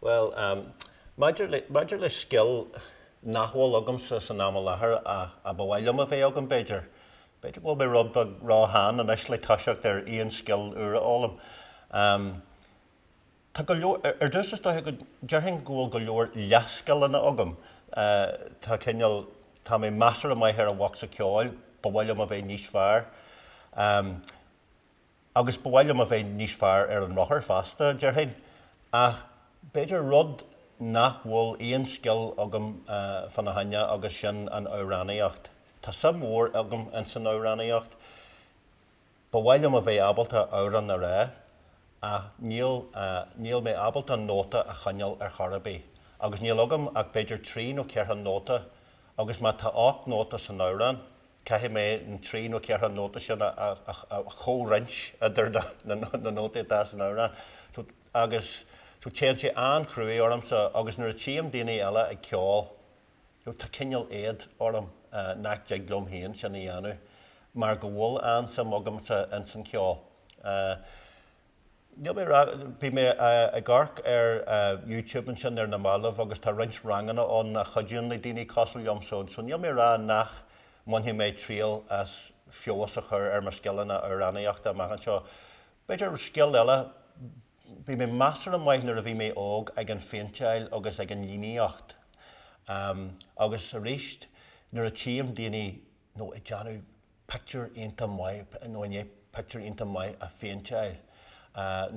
Bhuel, maidir le, maidir le scil nach bhfuil agamsa san am i láthair ach a ba mhaith liom a bheith agam b'fhéidir, b'fhéidir go bhfuil mé rud beag ró-shean anois le toiseacht ar aon scil úr a fhoghlaim. Tá go, ar dtús is dócha go, déarfainn go bhfuil go leor leathscileanna agam. Tá cineál, tá mé measartha maith ar an bhocsa ceoil, ba mhaith liom a bheith níos fearr. agus ba mhaith liom a bheith níos fearr ar an rothar feasta, déarfainn, ach b'fhéidir rud nach bhfuil aon scil agam fána choinne agus sin an amhránaíocht. Tá suim mhór agam ins an amhránaíocht, ba mhaith liom a bheith ábalta amhrán a rá, ach níl, níl mé ábalta nóta a choinneáil ar chor ar bith, agus níl agam ach b'fhéidir trí nó ceithre nóta, agus má tá ocht nóta san amhrán, Caithfidh mé na trí nó ceithre nóta sin a chomhroinnt idir na nótaí atá san amhrán. Agus, so téann sé an-chruaidh ormsa agus nuair a tchím daoine eile ag ceol, tá cineál éad orm nach dtig liom féin sin a dhéanamh mar go bhfuil an-suim agamsa ins an cheol. Níl mé ag rá, bhí mé ag amharc ar YouTube ansin ar na mallaibh agus tá roinnt ranganna ann a chuidíonn le daoine cosúil liomsa, so níl mé ag rá nach mbainfidh mé triail as feabhas a chur ar mo scileanna amhránaíochta amach anseo. B'fhéidir scil eile, bhí mé measartha maith nuair a bhí mé óg ag an phéinteáil agus ag an líníocht agus arís nuair a tchím daoine nó i ndiaidh pictiúr iontach maith, nó i ndiaidh pictiúr iontach maith a phéinteáil,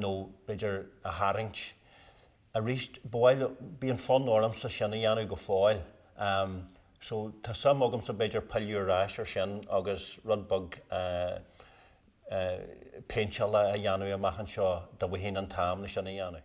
nó b'fhéidir a tharraingt. Arís, ba mhaith liom, bíonn fonn ormsa sin a dhéanamh go fóill. So, tá suim agamsa b'fhéidir pilleadh ar ais ar sin agus rud beag péinteála a dhéanamh amach anseo, dá bhfuighinn an t-am le sin a dhéanamh.